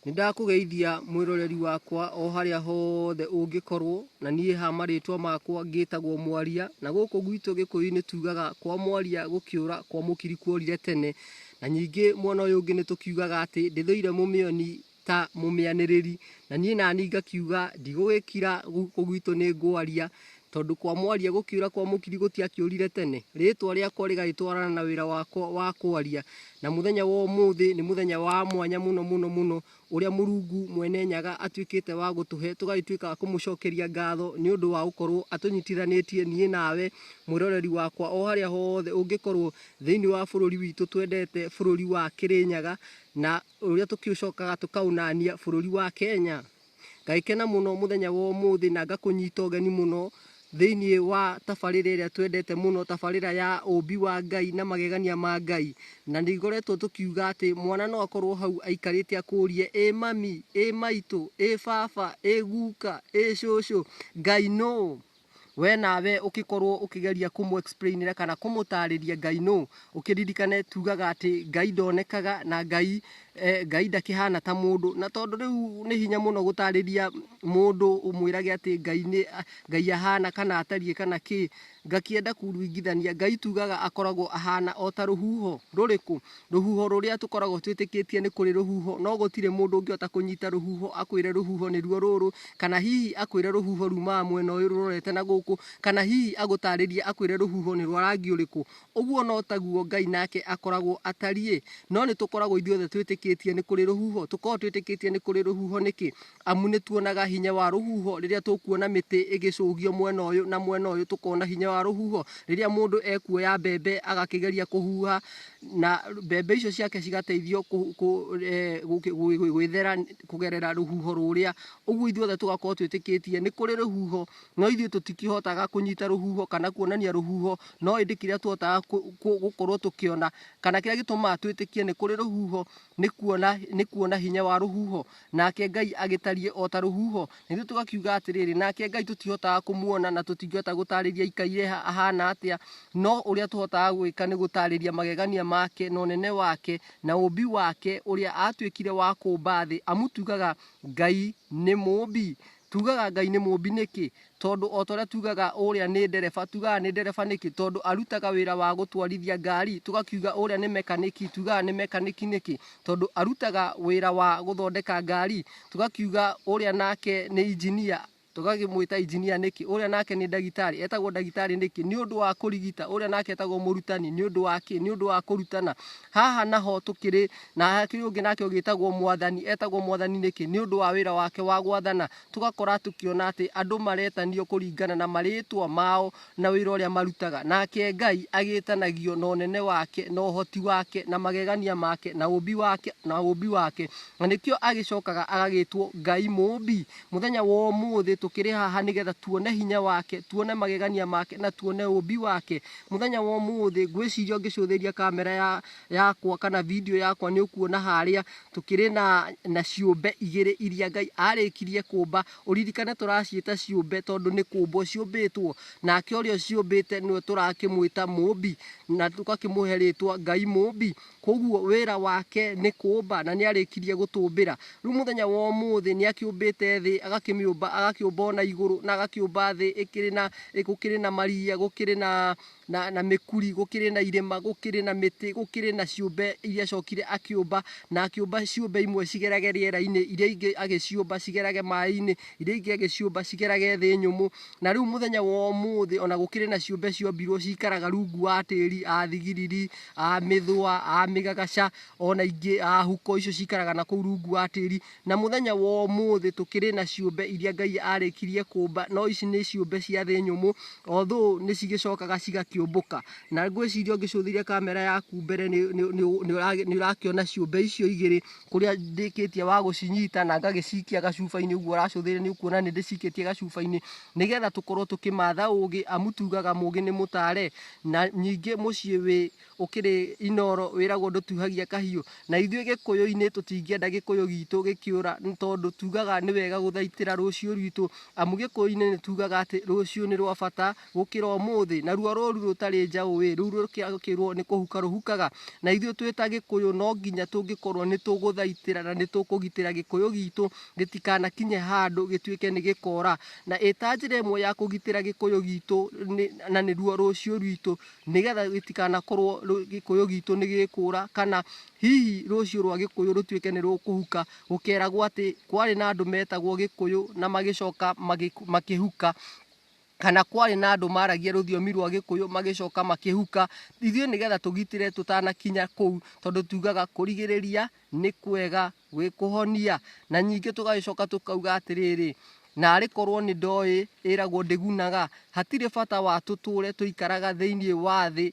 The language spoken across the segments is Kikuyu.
Nĩ ndakũgeithia mwĩroreri wakwa o harĩa hothe ũngĩkorwo, na niĩ haha marĩtwa makwa ngĩtagwo Mwaria, na gũkũ gwitũ Gĩkũyũ-inĩ tugaga kwa Mwaria gũkĩũra kwa mũkiri kuorire tene, na ningĩ mwena ũyũ ũngĩ nĩ tũkiugaga atĩ ndĩthũire mũmĩoni ta mũmĩanĩrĩri, na niĩ naniĩ ngakiuga ndigũgĩkira gũkũ gwitũ nĩ ngwaria, Tondũ kwa mwaria gũkĩũra kwa mũkiri gũtiakĩũrire tene, rĩĩtwa rĩakwa rĩgagĩtwarana na wĩra wakwa wa kwaria, na mũthenya wa ũmũthĩ nĩ mũthenya wa mwanya mũno mũno mũno, ũrĩa Mũrungu Mwene Nyaga atuĩkĩte wa gũtũhe, tũgagĩtuĩka a kũmũcokeria ngatho nĩ ũndũ wa gũkorwo atũnyitithanĩtie niĩ nawe, mwĩroreri wakwa o harĩa hothe ũngĩkorwo thĩiniĩ wa bũrũri witũ twendete, bũrũri wa Kĩrĩnyaga, na ũrĩa tũkĩũcokaga tũkaũnania bũrũri wa Kenya. Ngagĩkena mũno mũthenya wa ũmũthĩ na ngakũnyita ũgeni mũno thĩinĩ wa tabarĩra ĩrĩa twendete mũno, tabarĩra ya ũmbi wa Ngai na magegania ma Ngai. Na nĩ ngoretwo tũkiuga atĩ mwana no akorwo hau aikarĩte akũrie, ĩ mami, ĩ maitũ, ĩ baba, ĩ guka, ĩ cũcũ, Ngai nũ? we nawe ũkĩkorwo ũkĩgeria kũmũ explainĩra kana kũmũtarĩria ngai no ũkĩririkane tugaga atĩ ngai ndonekaga na ngai eh, ngai ndakĩhana ta mũndũ na tondũ rĩu nĩ hinya mũno gũtarĩria mũndũ ũmwĩrage atĩ ngai nĩ ngai ahana kana atariĩ kana kĩ ngakĩenda kuringithania ngai tugaga akoragwo ahana o ta rũhuho rũrĩkũ Rũhuho rũrĩa tũkoragwo twĩtĩkĩtie nĩ kũrĩ rũhuho, no gũtirĩ mũndũ ũngĩhota kũnyita rũhuho akwĩre rũhuho nĩruo rũrũ, kana hihi akwĩre rũhuho rumaga mwena ũyũ rũrorete na gũkũ, kana hihi agũtarĩrie akwĩre rũhuho nĩ rwa rangi ũrĩkũ. Ũguo no taguo Ngai nake akoragwo atariĩ. No nĩ tũkoragwo ithuothe twĩtĩkĩtie nĩ kũrĩ rũhuho. Tũkoragwo twĩtĩkĩtie nĩ kũrĩ rũhuho nĩkĩ? amu nĩ tuonaga hinya wa rũhuho rĩrĩa tũkuona mĩtĩ ĩgĩcũgio mwena ũyũ na mwena ũyũ, tũkona hinya wa rũhuho rĩrĩa mũndũ ekuoya mbembe agakĩgeria kũhuha na mbembe icio ciake cigateithio eh, gwĩthera kũgerera rũhuho rũrĩa. Ũguo ithuothe tũgakorwo twĩtĩkĩtie nĩ kũrĩ rũhuho, no ithuĩ tũtikĩhotaga kũnyita rũhuho kana kuonania rũhuho, no ĩndĩ kĩrĩa tũhotaga gũkorwo tũkĩona kana kĩrĩa gĩtũmaga twĩtĩkie nĩ kũrĩ rũhuho nĩ kuona hinya wa rũhuho Nake Ngai agĩtariĩ o ta rũhuho. Na ithuĩ tũgakiuga atĩrĩrĩ, nake Ngai tũtihotaga kũmuona na tũtingĩhota gũtaarĩria aikaire ha- ahaana atĩa, no ũrĩa tũhotaga gwĩka nĩ gũtaarĩria magegania make na ũnene wake na ũũmbi wake, ũrĩa aatuĩkire wa kũũmba thĩ, amu tugaga, Ngai nĩ mũũmbi. Tuugaga Ngai nĩ Mũũmbi nĩkĩ? Tondũ o ta ũrĩa tuugaga ũrĩa nĩ ndereba, tuugaga nĩ ndereba nĩkĩ? Tondũ arutaga wĩra wa gũtwarithia ngari. Tũgakiuga ũrĩa nĩ mekanĩki, tuugaga nĩ mekanĩki nĩkĩ? Tondũ arutaga wĩra wa gũthondeka ngari. Tũgakiuga ũrĩa nake nĩ injinia, tũgakĩmwĩta injinia nĩkĩ? Ũrĩa nake nĩ ndagĩtarĩ, etagwo ndagĩtarĩ nĩkĩ? Nĩ ũndũ wa kũrigita. Ũrĩa nake etagwo mũrutani, nĩ ũndũ wa kĩ? Nĩ ũndũ wa kũrutana. Haha naho tũkĩrĩ na hakĩrĩ ũngĩ nake ũgĩtagwo mwathani etagwo mwathani nĩkĩ nĩ ũndũ wa wĩra wake wa gwathana tũgakora tũkĩona atĩ andũ maretanio kũringana na marĩtwa mao na wĩra ũrĩa marutaga nake ngai agĩtanagio na ũnene wake na ũhoti wake na magegania make na ũmbi wake na ũmbi wake na nĩkĩo agĩcokaga agagĩtwo ngai mũmbi mũthenya wa ũmũthĩ tũkĩrĩ haha nĩgetha tuone hinya wake tuone magegania make na tuone ũmbi wake mũthenya wa ũmũthĩ ngwĩciria ũngĩcũthĩria kamera ya yakwa kana video yakwa nĩ ũkuona harĩa tũkĩrĩ na, na ciũmbe igĩrĩ iria Ngai arĩkirie kũmba. Ũririkane tũraciĩta ciũmbe tondũ nĩ kũmbwo ciũmbĩtwo, nake ũrĩa ũciũmbĩte nĩwe tũrakĩmwĩta mũmbi na tũgakĩmũhe rĩtwa Ngai mũmbi. Koguo wĩra wake nĩ kũmba na nĩ arĩkirie gũtũmbĩra. Rĩu mũthenya wa ũmũthĩ nĩ akĩũmbĩte thĩ, agakĩmĩũmba, agakĩũmba ona igũrũ na agakĩũmba thĩ ĩkĩrĩ na, gũkĩrĩ na maria, gũkĩrĩ na, na, na mĩkuri gũkĩrĩ na irĩma gũkĩrĩ na mĩtĩ gũkĩrĩ na ciũmbe iria cokire akĩũmba na akĩũmba ciũmbe imwe cigerage rĩera-inĩ iria ingĩ agĩciũmba cigerage maĩ-inĩ iria ingĩ agĩciũmba cigerage thĩ nyũmũ na rĩu mũthenya wa ũmũthĩ ona gũkĩrĩ na ciũmbe ciombirwo cikaraga rungu wa tĩri a thigiriri a mĩthũa a mĩgagaca ona ingĩ a huko icio cikaraga na kũu rungu wa tĩri Na mũthenya wa ũmũthĩ tũkĩrĩ na ciũmbe iria Ngai aarĩkirie kũmba, no ici nĩ ciũmbe cia thĩ nyũmũ, although nĩ cigĩcokaga cigakĩũmbũka. Na ngwĩciria ũngĩcũthĩrĩria kamera yaku mbere nĩ nĩ- nĩ- nĩ ũragĩ- nĩ ũrakĩona ciũmbe icio igĩrĩ kũrĩa ndĩkĩtie wa gũcinyita na ngagĩcikia gacuba-inĩ ũguo ũracũthĩrĩria nĩ ũkuona nĩ ndĩcikĩtie gacuba-inĩ nĩgetha tũkorwo tũkĩmatha ũũgĩ amu tugaga mũũgĩ nĩ mũtare na nyingĩ mũciĩ wĩ ũkĩrĩ inooro wĩragwo ndũtuhagia kahiũ, na ithuĩ gĩkũyũ-inĩ tũtingĩenda gĩkũyũ gitũ gĩkĩũra nĩ tondũ tugaga nĩ wega gũthaitĩra rũciũ rwitũ, amu gĩkũyũ-inĩ nĩ tugaga atĩ rũciũ nĩ rwa bata gũkĩra ũmũthĩ, naruo rũru rũtarĩ njaũ-ĩ, rũu rũkĩrwo nĩ kũhuka rũhukaga, na ithuĩ twĩ ta gĩkũyũ no nginya tũngĩkorwo nĩ tũgũthaitĩra na nĩ tũkũgitĩra gĩkũyũ gitũ gĩtikanakinye handũ gĩtuĩke nĩ gĩkora, na ĩta njĩra ĩmwe ya kũgitĩra gĩkũyũ gitũ na nĩruo rũciũ rwitũ nĩgetha gĩtikanakorwo gĩkũyũ gitũ nĩ gĩkũra kana hihi rũciũ rwa gĩkũyũ rũtuĩke nĩ rũkũhuka gũkeragwo atĩ kwarĩ na andũ metagwo gĩkũyũ na magĩcoka makĩhuka kana kwarĩ na andũ maragia rũthiomi rwa gĩkũyũ magĩcoka makĩhuka ithuĩ nĩgetha tũgitĩre tũtanakinya kũu tondũ tugaga kũrigĩrĩria nĩ kwega. gwĩkũhonia na nyingĩ tũgagĩcoka tũkauga atĩrĩrĩ narĩ korwo nĩ ndoĩ ĩragwo ndĩgunaga hatirĩ bata wa tũtũre tũikaraga thĩinĩ wa thĩ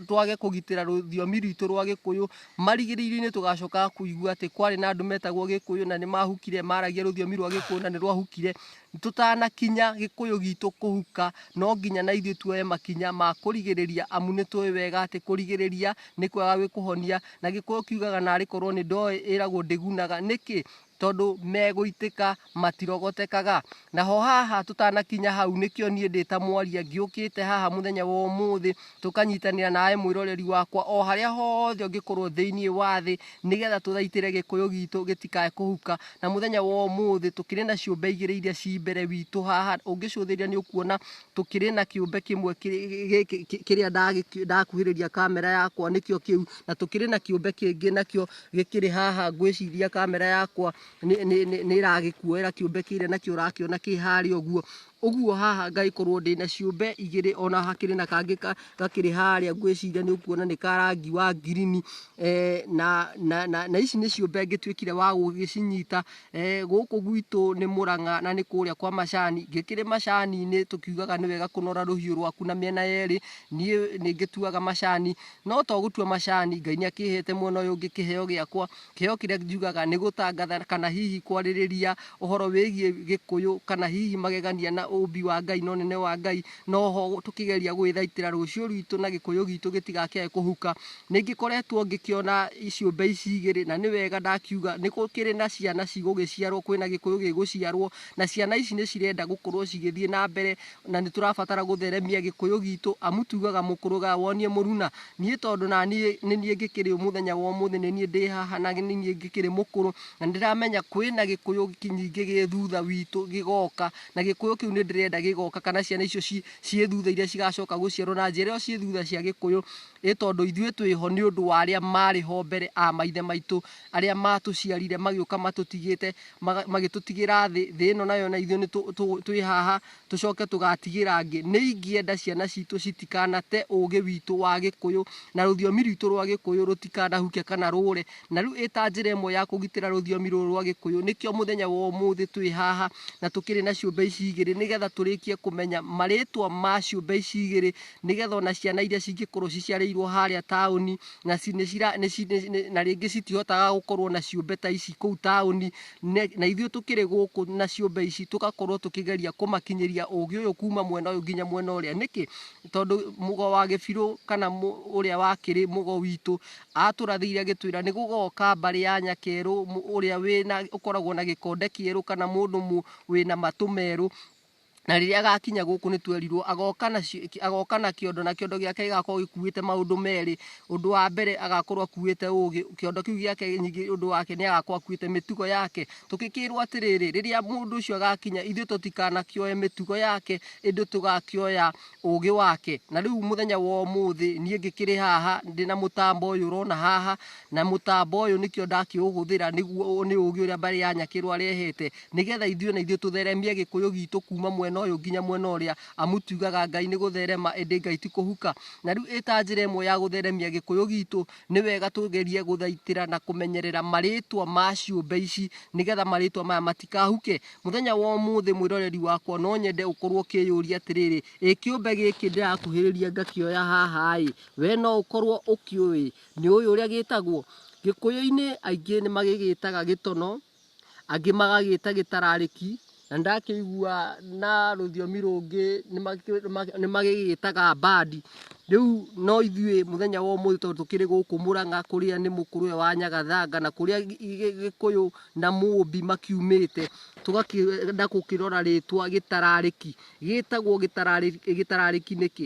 twage kũgitĩra rũthiomi rwitũ rwa gĩkũyũ marigĩrĩrio-inĩ tũgacoka kũigua atĩ kwarĩ na andũ metagwo gĩkũyũ na nĩ mahukire maragia rũthiomi rwa gĩkũyũ na nĩ rwahukire Tũtanakinya gĩkũyũ gitũ kũhuka, no nginya na ithuĩ tuoye makinya ma kũrigĩrĩria amu nĩ tũĩ wega atĩ kũrigĩrĩria nĩ kwega gwĩkũhonia. Na gĩkũyũ kiugaga narĩ korwo nĩ ndoĩ ĩragwo ndĩgunaga. Nĩkĩ? Tondũ megũitĩka matirogotekaga. Naho haha tũtanakinya hau nĩkĩo niĩ ndĩ ta mwaria ngĩũkĩte haha mũthenya wa ũmũthĩ tũkanyitanĩra nawe mwĩroreri wakwa o harĩa hothe ũngĩkorwo thĩinĩ wa thĩ nĩgetha tũthaitĩre gĩkũyũ gitũ gĩtikae kũhuka na mũthenya wa ũmũthĩ tũkĩrĩ na ciũmbe igĩrĩ iria ci mbere witũ haha ũngĩcũthĩrĩria nĩ ũkuona tũkĩrĩ na kĩũmbe kĩmwe kĩrĩ- gĩ- gĩ- gĩ- kĩrĩa ndagĩki- ndakuhĩrĩria kamera yakwa nĩkĩo kĩu na tũkĩrĩ na kĩũmbe kĩngĩ nakĩo gĩkĩrĩ haha ngwĩciria kamera yakwa nĩ- nĩ- nĩ- nĩ ĩragĩkuoera kĩũmbe kĩrĩa nakĩo ũrakĩona kĩ harĩa ũguo Ũguo haha ngagĩkorwo ndĩ na ciũmbe igĩrĩ ona hakĩrĩ na kangĩ ka- gakĩrĩ harĩa ngwĩciria nĩ ũkuona nĩ ka rangi wa ngirini eh, na, na, na, na ici nĩ ciũmbe ngĩtuĩkire wa gũgĩcinyita eh, gũkũ gwitũ nĩ mũrang'a na nĩ kũrĩa kwa macani ngĩkĩrĩ macani-inĩ tũkiugaga nĩ wega kũnora rũhiũ rwaku na mĩena yerĩ niĩ nĩ ngĩtuaga macani no to gũtua macani Ngai nĩ akĩhete mwena ũyũ ngĩkĩheo gĩakwa Kĩheo kĩrĩa njugaga nĩ gũtangatha kana hihi kwarĩrĩria ũhoro wĩgiĩ Gĩkũyũ kana hihi magegania na ũũmbi wa Ngai na ũnene wa Ngai, na o ho tũkĩgeria gũgĩthaitĩra rũciũ rwitũ na Gĩkũyũ gitũ gĩtigakĩae kũhuka. Nĩ ngĩkoretwo ngĩkĩona ciũmbe ici igĩrĩ na nĩ wega ndakiuga nĩ gũkĩrĩ na ciana cigũgĩciarwo, kwĩna Gĩkũyũ gĩgũciarwo na ciana ici nĩ cirenda gũkorwo cigĩthiĩ na mbere na nĩ tũrabatara gũtheremia gĩkũyũ gitũ amu tugaga mũkũrũga wonie mũruna niĩ tondũ na niĩ nĩ niĩ ngĩkĩrĩ mũthenya wa ũmũthĩ nĩ niĩ ndĩ haha na nĩ niĩ ngĩkĩrĩ mũkũrũ na nĩ ndĩramenya kwĩ na gĩkũyũ ki- nyingĩ gĩ thutha witũ gĩgoka na gĩkũyũ kĩu nĩ ndĩrenda gĩgoka kana ciana icio ci- ciĩ thutha iria cigacoka gũciarwo na njĩra ĩyo ciĩ thutha cia gĩkũyũ ĩ tondũ ithuĩ twĩho nĩ ũndũ wa arĩa marĩ ho mbere a maithe maitũ arĩa matũciarire magĩũka matũtigĩte maga- magĩtũtigĩra thĩ thĩ ĩno nayo na ithuĩ nĩ tũ- tũ- twĩ haha tũcoke tũgatigĩra angĩ nĩ ingĩenda ciana citũ citikanate ũũgĩ witũ wa gĩkũyũ na rũthiomi rwitũ rwa gĩkũyũ rũtikanahuke kana rũre na rĩu ĩta njĩra ĩmwe ya kũgitĩra rũthiomi rũrũ rwa gĩkũyũ nĩkĩo mũthenya wa ũmũthĩ twĩ haha na tũkĩrĩ na ciũmbe ici igĩrĩ nĩgetha tũrĩkie kũmenya marĩtwa ma ciũmbe ici igĩrĩ nĩgetha ona ciana iria cingĩkorwo ciciarĩirwo harĩa taũni na ci- nĩ cira- nĩ ci- nĩ- nĩ- na rĩngĩ citihotaga gũkorwo na ciũmbe ta ici kũu taũni Ne- na ithuĩ tũkĩrĩ gũkũ na ciũmbe ici tũgakorwo tũkĩgeria kũmakinyĩria ũgĩ ũyũ kuma mwena ũyũ nginya mwena ũrĩa nĩkĩ tondũ mũgo wa gĩbirũ kana mũ- ũrĩa wakĩrĩ mũgo witũ atũrathĩire agĩtwĩra nĩ gũgoka mbarĩ ya nyakerũ mũ- ũrĩa wĩna ũkoragwo na gĩkonde kĩerũ kana mũndũ mũ- wĩna matũ merũ Na rĩrĩa agakinya gũkũ nĩ twerirwo agoka na ci- ki- agoka na kĩondo na kĩondo gĩake gĩgakorwo gĩkuĩte maũndũ merĩ ũndũ wa mbere agakorwo akuĩte ũgĩ kĩondo kĩu gĩake nyingĩ ũndũ wake nĩ agakorwo akuĩte mĩtugo yake tũgĩkĩrwo atĩrĩrĩ rĩrĩa mũndũ ũcio agakinya ithuĩ tũtikanakĩoe mĩtugo yake ĩndĩ tũgakĩoya ũgĩ wake na rĩu mũthenya wa ũmũthĩ niĩ ngĩkĩrĩ haha ndĩ na mũtambo ũyũ ũrona haha Na mũtambo ũyũ nĩkĩo ndakĩũhũthĩra nĩguo ũũ nĩ ũũgĩ ũrĩa mbarĩ ya Nyakĩrũ arehete, nĩgetha ithuĩ na ithuĩ tũtheremie Gĩkũyũ gitũ kuuma mwena ũyũ nginya mwena ũrĩa, amu tugaga Ngai nĩ gũtherema ĩndĩ Ngai ti kũhuka. Na rĩu ĩta njĩra ĩmwe ya gũtheremia Gĩkũyũ gitũ, nĩ wega tũgerie gũthaitĩra na kũmenyerera marĩtwa ma ciũmbe ici, nĩgetha marĩtwa maya matikahuke. Mũthenya wa ũmũthĩ mwĩroreri wakwa no nyende ũkorwo ũkĩyũria atĩrĩrĩ, ĩ kĩũmbe gĩkĩ ndĩrakuhĩrĩria ngakĩoya haha-ĩ, we no ũkorwo ũkĩũĩ? Nĩ ũĩ ũrĩa gĩtagwo? Gĩkũyũ-inĩ aingĩ nĩ magĩgĩtaga gĩtono, angĩ magagĩta gĩtararĩki, na nĩ ndakĩigua na rũthiomi rũngĩ nĩ magĩgĩtaga mbandi. Rĩu no ithuĩ mũthenya wa ũmũthĩ tondũ tũkĩrĩ gũkũ Mũrang'a kũrĩa nĩ mũkũrũ ũyũ wa Nyagathanga na kũrĩa Gĩkũyũ na Mũmbi makiumĩte, tũgakĩenda gũkĩrora rĩtwa gĩtararĩki. Gĩtagwo gĩtararĩki nĩkĩ?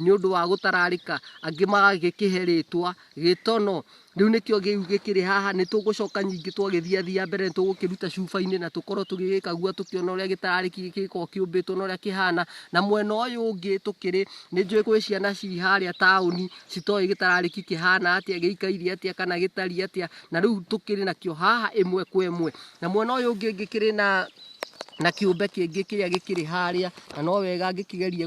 nĩ ũndũ wa gũtararĩka, angĩ magagĩkĩhe rĩtwa gĩtono. Rĩu nĩkĩo kĩu gĩkĩrĩ haha, nĩ tũgũcoka nyingĩ twagĩthiathiia mbere nĩ tũgũkĩruta cuba-inĩ na tũkorwo tũgĩgĩkagua tũkĩona ũrĩa gĩtararĩki gĩkĩ gĩkoragwo kĩũmbĩtwo na ũrĩa kĩhana. Na mwena ũyũ ũngĩ tũkĩrĩ, nĩ njũĩ gwĩ ciana ci harĩa taũni citoĩ gĩtararĩki kĩhana atĩa, gĩikairie atĩa kana gĩtariĩ atĩa, na rĩu tũkĩrĩ nakĩo haha ĩmwe kwa ĩmwe. Na mwena ũyũ ũngĩ ngĩkĩrĩ na na kĩũmbe kĩngĩ kĩrĩa gĩkĩrĩ harĩa na no wega ngĩkĩgerie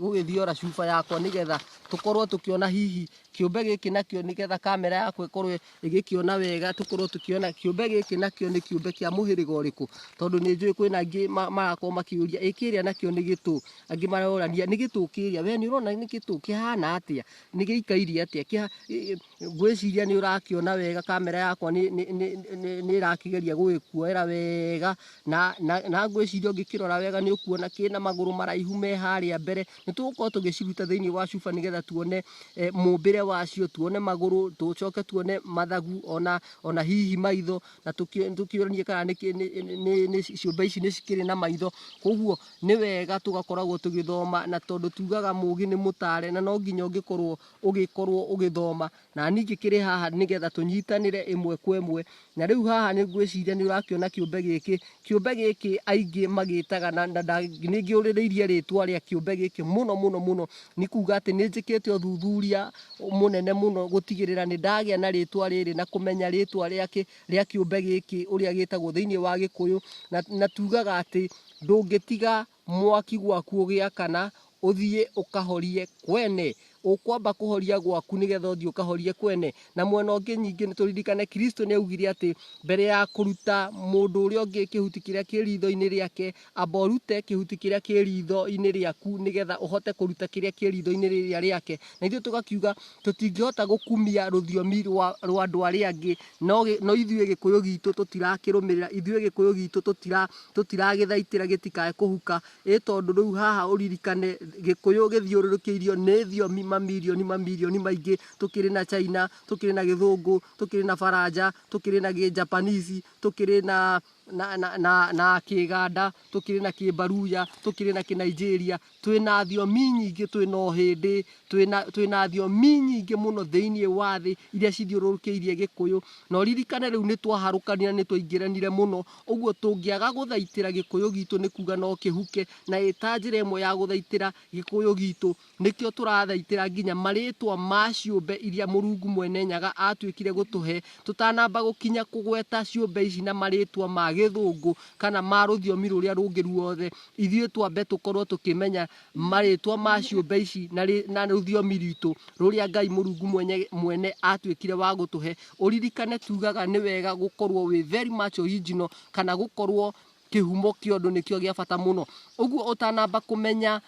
gũgĩthiora cuba yakwa nĩgetha tũkorwo tũkĩona hihi kĩũmbe gĩkĩ nakĩo nĩgetha kamera yakwa ĩkorwo ĩgĩkĩona wega tũkorwo tũkĩona kĩũmbe gĩkĩ nakĩo nĩ kĩũmbe kĩa mũhĩrĩga ũrĩkũ tondũ nĩ njũĩ kwĩna angĩ ma- marakorwo makĩũria ĩ kĩrĩa nakĩo nĩ gĩtũ angĩ marorania nĩ gĩtũ kĩrĩa we nĩ ũrona nĩ gĩtũ kĩhana atĩa nĩ gĩikairie atĩa Kĩha- ĩ- ĩ- ngwĩciria nĩ ũrakĩona wega kamera yakwa nĩ- nĩ- nĩ- nĩ- nĩ ĩrakĩgeria gũgĩkuoera wega na, na, na ngwĩciria ũngĩkĩrora wega nĩ ũkuona kĩna magũrũ maraihu me harĩa mbere nĩ tũgũkorwo tũgĩciruta thĩinĩ wa cuba nĩgetha tuone eh, mũmbĩre wacio tuone magũrũ tũcoke tuone mathagu ona, ona hihi maitho na tũkĩ- tũkĩũranie kana nĩ, kĩ- nĩ- nĩ- nĩ- nĩ- ciũmbe ici nĩ cikĩrĩ na maitho koguo nĩ wega tũgakoragwo tũgĩthoma na tondũ tugaga mũgĩ nĩ mũtare na no nginya ũngĩkorwo ũgĩkorwo ũgĩthoma na niĩ ingĩkĩrĩ haha nĩgetha tũnyitanĩre ĩmwe kwa ĩmwe na rĩu haha nĩ ngwĩciria nĩ ũrakĩona kĩũmbe gĩkĩ kĩũmbe gĩkĩ aingĩ magĩtaga na na nda- nĩ ngĩũrĩrĩirie rĩtwa rĩa kĩũmbe gĩkĩ mũno mũno mũno nĩ kuga atĩ nĩ njĩkĩte ũthuthuria mũnene mũno gũtigĩrĩra nĩ ndagĩa na rĩtwa rĩrĩ na kũmenya rĩtwa rĩake rĩa kĩũmbe gĩkĩ ũrĩa gĩtagwo thĩinĩ wa gĩkũyũ na, na tugaga atĩ ndũngĩtiga Mwaki gwaku ũgĩakana, ũthiĩ ũkahorie kwene. Ũkwamba kũhoria gwaku nĩgetha ũthiĩ ũkahorie kwene. Na mwena ũngĩ nyingĩ nĩ tũririkane Kristo nĩ augire atĩ mbere ya kũruta mũndũ ũrĩa ũngĩ kĩhuti kĩrĩa kĩ ritho-inĩ rĩake, amba ũrute kĩhuti kĩrĩa kĩ ritho-inĩ rĩaku nĩgetha ũhote kũruta kĩrĩa kĩ ritho-inĩ rĩrĩa rĩake. Na ithuĩ tũgakiuga tũtingĩhota gũkumia rũthiomi rwa andũ arĩa angĩ No gĩ, no ithuĩ Gĩkũyũ gitũ tũtirakĩrũmĩrĩra, ithuĩ Gĩkũyũ gitũ tũtira, tũtiragĩthaitĩra gĩtikae kũhuka, ĩ tondũ rĩu haha ũririkane Gĩkũyũ gĩthiũrũrũkĩirio nĩ thiomi mamirioni mamirioni maingĩ, tũkĩrĩ na China, tũkĩrĩ na Gĩthũngũ, tũkĩrĩ na Baranja, tũkĩrĩ na Gĩjapanisi, tũkĩrĩ na na, na, na, na kĩganda tũkĩrĩ na kĩmbaruya tũkĩrĩ na kĩnaijeria twĩ na thiomi nyingĩ twĩ na ũhĩndĩ twĩ na- twĩ na thiomi nyingĩ mũno thĩinĩ wa thĩ iria cithiũrũrũkĩirie gĩkũyũ na ũririkane rĩu nĩ twaharũkanire nĩ twaingĩranire mũno ũguo tũngĩaga gũthaitĩra gĩkũyũ gitũ nĩ kuga no kĩhuke na ĩta njĩra ĩmwe ya gũthaitĩra gĩkũyũ gitũ Nĩkĩo tũrathaitĩra nginya marĩĩtwa ma ciũmbe iria Mũrungu Mwene Nyaga aatuĩkire gũtũhe, tũtanamba gũkinya kũgweta ciũmbe ici na marĩĩtwa ma Gĩthũngũ kana ma rũthiomi rũrĩa rũngĩ ruothe. Ithuĩ twambe tũkorwo tũkĩmenya marĩĩtwa ma ciũmbe ici na rũthiomi rwitũ rũrĩa Ngai Mũrungu Mwenye Mwene aatuĩkire wa gũtũhe. Ũririkane tugaga nĩ wega gũkorwo wĩ very much original kana gũkorwo kĩhumo kĩa ũndũ nĩkĩo gĩa bata mũno. Ũguo ũtanamba kũmenya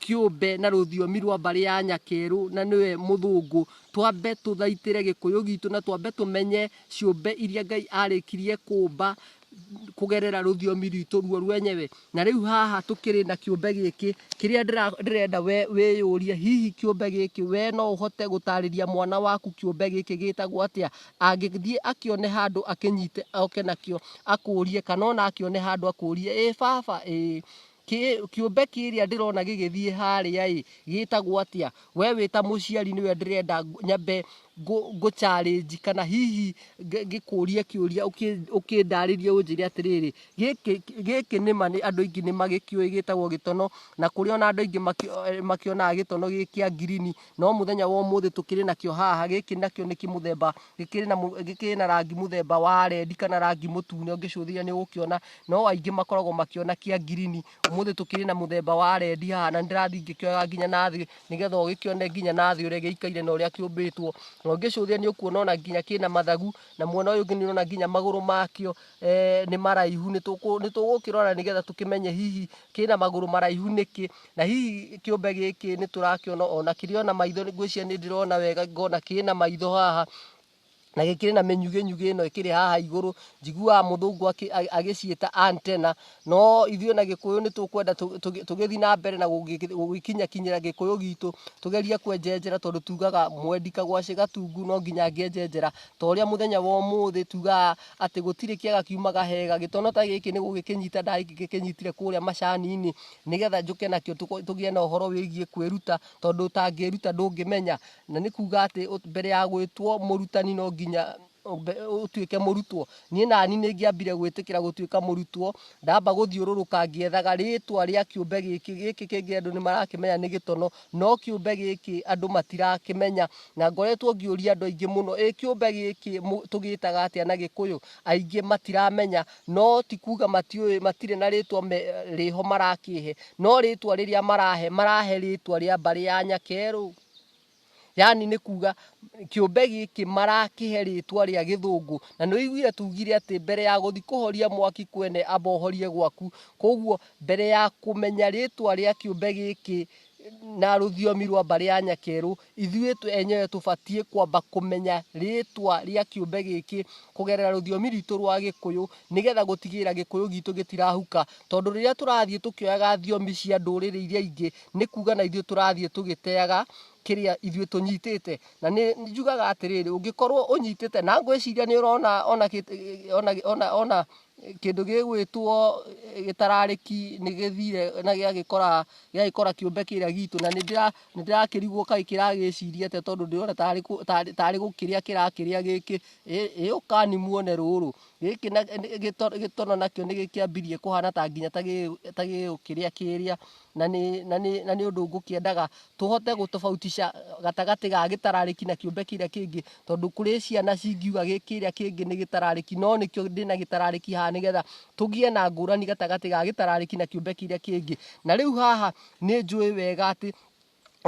kĩũmbe na rũthiomi rwa mbarĩ ya Nyakerũ na nĩwe mũthũngũ, twambe tũthaitĩre gĩkũyũ gitũ na twambe tũmenye ciũmbe iria Ngai arĩkirie kũmba kũgerera rũthiomi rwitũ ruo rwenyewe. Na rĩu haha tũkĩrĩ na kĩũmbe gĩkĩ, kĩrĩa ndĩra- ndĩrenda we wĩyũrie, hihi kĩũmbe gĩkĩ we no ũhote gũtarĩria mwana waku kĩũmbe gĩkĩ gĩtagwo atĩa? angĩthiĩ akĩone handũ akĩnyite oke nakĩo akũrie kana ona akĩone handũ akũrie ĩ baba ĩ kĩ- kĩũmbe kĩrĩa ndĩrona gĩgĩthiĩ harĩa ĩ gĩtagwo atĩa we wĩ ta mũciari nĩwe ndĩrenda ng- nyambe ngũ- ngũcarĩnji kana hihi ngĩ- ngĩkũrie kĩũria ũkĩ- ũkĩndarĩrie ũnjĩre atĩrĩrĩ gĩkĩ gĩkĩ nĩma nĩ andũ aingĩ nĩ magĩkĩũĩ gĩtagwo gĩtono na kũrĩ ona andũ aingĩ makĩ- eh, makĩonaga gĩtono gĩ kĩa ngirini no muthenya wa umuthi tukiri nakio haha giki nakio ni kimuthemba gikiri na mu- gikiri na rangi muthemba wa rendi kana rangi mutune ungicuthiria ni ukiona no aingi makoragwo makiona kia ngirini umuthi tukiri na muthemba wa rendi haha na ndirathi ngikioya nginya na thi nigetha ugikione nginya na thi uria giikaire na uria kiumbitwo na ungicuthia ni ukuona ona nginya kina mathagu na mwena uyu ungi ni urona nginya maguru makio eh, ni maraihu ni tugukirora nigetha tukimenye hihi kina maguru maraihu niki Na hihi kĩũmbe gĩkĩ nĩ tũrakĩona ona kĩrĩ ona maitho, ngwĩciria nĩ ndĩrona wega ngona kĩrĩ na maitho haha na gĩkĩrĩ na mĩnyugĩnyugĩ ĩno ĩkĩrĩ haha igũrũ, njiguaga mũthũngũ akĩ- a- agĩciĩta antenna, no ithuĩ na gĩkũyũ nĩ tũkwenda tũ- tũgĩ- tũgĩthiĩ na mbere na gũgĩ- gũgĩkinyakinyĩra gĩkũyũ gitũ, tũgerie kwenjenjera tondũ tugaga mwendi kagwacĩ gatungu no nginya angĩenjenjera, ta ũrĩa mũthenya wa ũmũthĩ tugaga atĩ gũtirĩ kĩaga kiumaga hega, gĩtono ta gĩkĩ nĩ gũgĩkĩnyita ndagĩkĩnyitire kũrĩa macani-inĩ, nĩgetha njũke nakĩo tũgĩe na ũhoro wĩgiĩ kwĩruta tondũ ũtangĩĩruta ndũngĩmenya na nĩ kuga atĩ mbere ya gwĩtwo mũrutani no nginya ũtuĩke mũrutwo niĩ nani nĩ ngĩambire gwĩtĩkĩra gũtuĩka mũrutwo ndamba gũthiũrũrũka ngĩethaga rĩtwa rĩa kĩũmbe gĩkĩ gĩkĩ kĩngĩ andũ nĩ marakĩmenya nĩ gĩtono no kĩũmbe gĩkĩ andũ matirakĩmenya na ngoretwo ngĩũria andũ aingĩ mũno ĩ kĩũmbe gĩkĩ tũgĩtaga atĩa na gĩkũyũ aingĩ matiramenya no ti kuga matiũĩ matirĩ na rĩtwa rĩho marakĩhe no rĩtwa rĩrĩa marahe marahe rĩtwa rĩa mbarĩ ya nyakerũ yani nĩ kuga kĩũmbe gĩkĩ marakĩhe rĩtwa rĩa gĩthũngũ na nĩ ũiguire tugire atĩ mbere ya gũthi kũhoria mwaki kwene amba ũhorie gwaku koguo mbere ya kũmenya rĩtwa rĩa kĩũmbe gĩkĩ na rũthiomi rwa mbarĩ ya Nyakerũ, ithuĩ enyewe tũbatiĩ kwamba kũmenya rĩtwa rĩa kĩũmbe gĩkĩ kũgerera rũthiomi rwitũ rwa Gĩkũyũ, nĩgetha gũtigĩrĩra Gĩkũyũ gitũ gĩtirahuka. Tondũ rĩrĩa tũrathiĩ tũkĩoyaga thiomi cia ndũrĩrĩ iria ingĩ, nĩ kuga na ithuĩ tũrathiĩ tũgĩteaga kĩrĩa ithuĩ tũnyitĩte. Na nĩ njugaga atĩrĩrĩ, ũngĩkorwo ũnyitĩte, na ngwĩciria nĩ ũrona ona ona ona. kĩndũ gĩgwĩtwo gĩtararĩki nĩ gĩthire na gĩagĩkora gĩagĩkora kĩũmbe kĩrĩa gitũ na nĩ ndĩra- nĩ ndĩrakĩrigwo kaĩ kĩragĩciria atĩa tondũ ndĩrona tarĩ kũ- tarĩ- tarĩ gũkĩrĩa kĩrakĩrĩa gĩkĩ Ĩ- ĩ ũkani muone rũrũ gĩkĩ na- nĩ- gĩto- gĩtono nakĩo nĩ gĩkĩambirie kũhana ta nginya ta gĩ- ta gĩgũkĩrĩa kĩrĩa na nĩ, na nĩ, na nĩ ũndũ ngũkĩendaga tũhote gũtobautisha gatagatĩ ga gĩtararĩki na kĩũmbe kĩrĩa kĩngĩ tondũ kũrĩ ciana cingiuga gĩ- kĩrĩa kĩngĩ nĩ gĩtararĩki no nĩkĩo ndĩ na gĩtararĩki haha nĩgetha tũgĩe na ngũrani gatagatĩ ga gĩtararĩki na kĩũmbe kĩrĩa kĩngĩ na rĩu haha nĩ njũĩ wega atĩ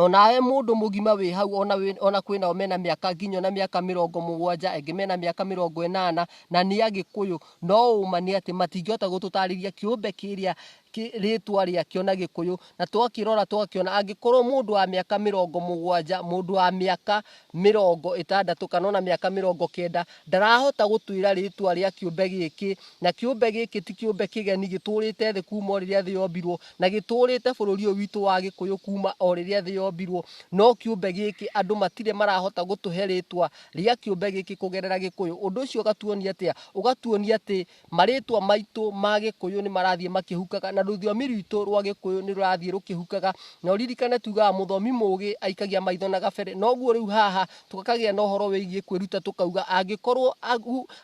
Onawe mũndũ mũgima wĩ hau, ona, wĩ, ona kwĩ nao mena mĩaka nginya ona mĩaka mĩrongo mũgwanja, angĩ mena mĩaka mĩrongo ĩnana, na nĩ agĩkũyũ. No ũũma nĩ atĩ matingĩhota gũtũtarĩria kĩũmbe kĩrĩa kĩ, rĩtwa rĩakĩo na gĩkũyũ, na twakĩrora twakĩona angĩkorwo mũndũ wa mĩaka mĩrongo mũgwanja, mũndũ wa mĩaka mĩrongo ĩtandatũ kana ona mĩaka mĩrongo kenda ndarahota gũtwĩra rĩtwa rĩa kĩũmbe gĩkĩ na kĩũmbe gĩkĩ ti kĩũmbe kĩgeni gĩtũrĩte thĩ kuma o rĩrĩa thĩ yombirwo na gĩtũrĩte bũrũri ũyũ witũ wa gĩkũyũ kuma o rĩrĩa thĩ yombirwo no kĩũmbe gĩkĩ andũ matirĩ marahota gũtũhe rĩtwa rĩa kĩũmbe gĩkĩ kũgerera gĩkũyũ ũndũ ũcio ũgatuonia atĩa ũgatuonia atĩ Marĩĩtwa maitũ ma Gĩkũyũ nĩ marathiĩ makĩhukaga, na rũthiomi rwitũ rwa Gĩkũyũ nĩ rũrathiĩ rũkĩhukaga. Na ũririkane tuugaga mũthomi mũũgĩ aikagia maitho na gabere. Noguo rĩu haha tũkagĩa na ũhoro wĩgiĩ kwĩruta tũkauga angĩkorwo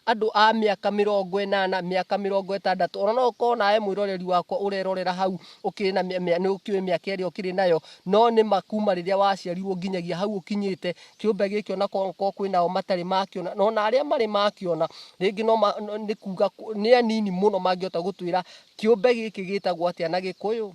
andũ a mĩaka mĩrongo ĩnana, mĩaka mĩrongo ĩtandatũ, o na no ũkorwo nawe mwĩroreri wakwa ũrerorera hau ũkĩrĩ na nĩ ũkĩũĩ mĩaka ĩrĩa ũkĩrĩ nayo, no nĩ ma kuuma rĩrĩa waciarirwo nginyagia hau ũkinyĩte, Kĩũmbe gĩkĩ ona korwo kwĩ nao matarĩ makĩona, na ona arĩa marĩ makĩona, rĩngĩ no ma, no- nĩ kuga kũ- nĩ anini mũno mangĩhota gũtwĩra kĩũmbe gĩkĩ gĩtagwo atĩa na Gĩkũyũ.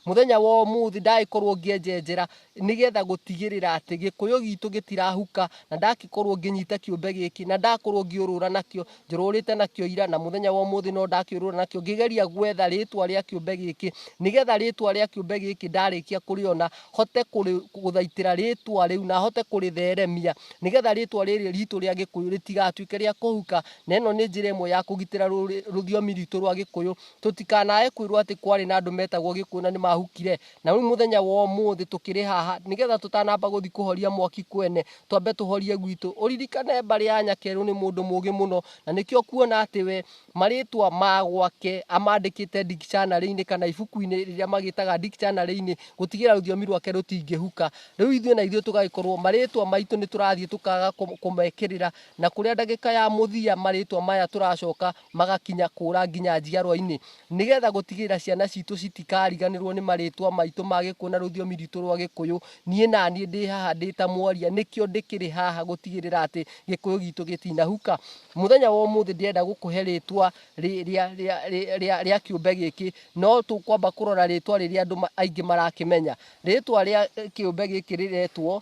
Mũthenya wa ũmũthĩ ndagĩkorwo ngĩenjenjera nĩgetha gũtigĩrĩra atĩ Gĩkũyũ gitũ gĩtirahuka, na ndagĩkorwo ngĩnyita kĩũmbe gĩkĩ, na ndakorwo ngĩũrũra nakĩo, njũrũrĩte nakĩo ira na mũthenya wa ũmũthĩ no ndakĩũrũra nakĩo ngĩgeria gwetha rĩtwa rĩa kĩũmbe gĩkĩ nĩgetha rĩtwa rĩa kĩũmbe gĩkĩ ndarĩkia kũrĩona hote kũrĩ- gũthaitĩra rĩtwa rĩu na hote kũrĩtheremia nĩgetha rĩtwa rĩrĩ ritũ rĩa gĩkũyũ rĩtigatuĩke rĩa kũhuka na ĩno nĩ njĩra ĩmwe ya kũgitĩra rũrĩ- rũthiomi ritũ rwa gĩkũyũ tũtikanae kwĩrwo atĩ kwarĩ na andũ metagwo gĩkũyũ na nĩ mahukire Na rĩu mũthenya wa ũmũthĩ tũkĩrĩ haha, nĩgetha tũtanamba gũthiĩ kũhoria mwaki kwene, twambe tũhorie gwitũ. Ũririkane mbarĩ ya Nyakeru nĩ mũndũ mũgĩ mũno, na nĩkĩo ũkuona atĩ we, marĩtwa ma gwake amandĩkĩte dictionary-inĩ kana ibuku-inĩ rĩrĩa magĩtaga dictionary-inĩ, gũtigĩrĩra rũthiomi rwake rũtingĩhuka. Rĩu ithuĩ na ithuĩ tũgagĩkorwo marĩtwa maitũ nĩ tũrathiĩ tũkaga kũmekĩrĩra, na kũrĩa ndagĩka ya mũthia marĩtwa maya tũracoka magakinya kũũra nginya njiarwa-inĩ, nĩgetha gũtigĩrĩra ciana citũ citikariganĩrwo nĩ marĩtwa maitũ ma Gĩkũyũ na rũthiomi rwitũ rwa Gĩkũyũ. Niĩ naniĩ ndĩ haha ndĩ ta mwaria, nĩkĩo ndĩkĩrĩ haha gũtigĩrĩra atĩ Gĩkũyũ gitũ gĩtinahuka. Mũthenya wa ũmũthĩ ndĩrenda gũkũhe rĩtwa rĩa kĩũmbe gĩkĩ, no tũkwamba kũrora rĩtwa rĩrĩa andũ aingĩ marakĩmenya. Rĩtwa rĩa kĩũmbe gĩkĩ rĩretwo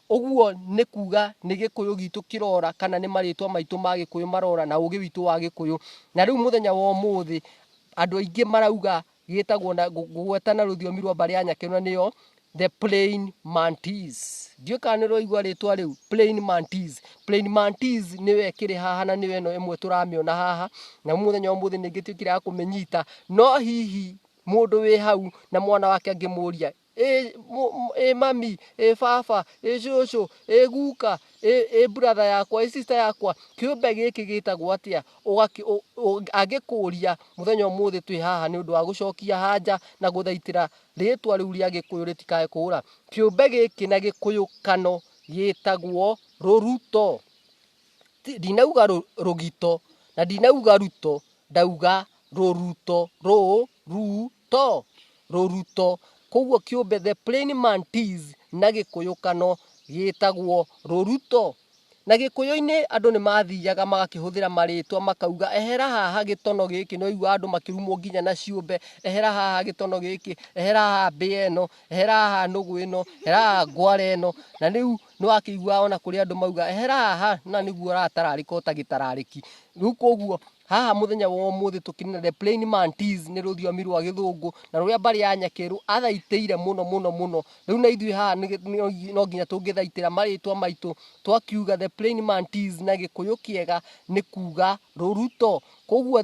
Ũguo nĩ kuuga nĩ Gĩkũyũ gitũ kĩrora kana nĩ marĩtwa maitũ ma Gĩkũyũ marora na ũgĩ witũ wa Gĩkũyũ. Na rĩu mũthenya wa ũmũthĩ andũ aingĩ marauga gĩtagwo na ngũgweta na rũthiomi rwa mbarĩ ya Nyakĩrũ na nĩyo the plain mantis. Ndiũĩ kana nĩ ũraigua rĩtwa rĩu plain mantis. Plain mantis nĩyo ĩkĩrĩ haha na nĩyo ĩno ĩmwe tũramĩona haha na mũthenya wa ũmũthĩ nĩ ĩgĩtuĩkire ya kũmĩnyita. No hihi mũndũ wĩ hau na mwana wake angĩmũria ĩ ĩ mami, ĩ baba, ĩ cũcũ, ĩ guka, ĩ brother yakwa, ĩ sister yakwa, kĩũmbe gĩkĩ gĩtagwo atĩa? Angĩkũria mũthenya ũmũthĩ twĩ haha nĩ ũndũ wa gũcokia hanja na gũthaitĩra rĩtwa rĩu rĩa gĩkũyũ rĩtikae kũũra. Kĩũmbe gĩkĩ na gĩkũyũ kano gĩtagwo rũruto. Ndinauga rũgito na ndinauga ruto, ndauga rũruto, rũ, ru, to rũruto, kwoguo kĩũmbe the plain mantis na gĩkũyũkano gĩtagwo rũruto. Na gĩkũyũ-inĩ andũ nĩ mathiaga magakĩhũthĩra marĩtwa makauga ehera haha gĩtono gĩkĩ, nĩ waigua andũ makĩrumwo nginya na ciũmbe, ehera haha gĩtono gĩkĩ, ehera haha mbĩa ĩno, ehera haha nũgũ ĩno, ehera haha ngwara ĩno, na rĩu nĩ wakĩiguaga ona kũrĩ andũ mauga ehera haha na nĩguo ũratararĩka ũtagĩtararĩki. Rĩu kwoguo Haha mũthenya wa ũmũthĩ tũkĩnina the plain mantis nĩ rũthiomi rwa gĩthũngũ na rũrĩa mbarĩ ya nyakĩrũ athaitĩire mũno mũno mũno rĩu na ithuĩ haha nĩ- nĩ- no nginya tũngĩthaitĩra marĩtwa maitũ twakiuga the plain mantis na gĩkũyũ kĩega nĩ kuga rũruto koguo the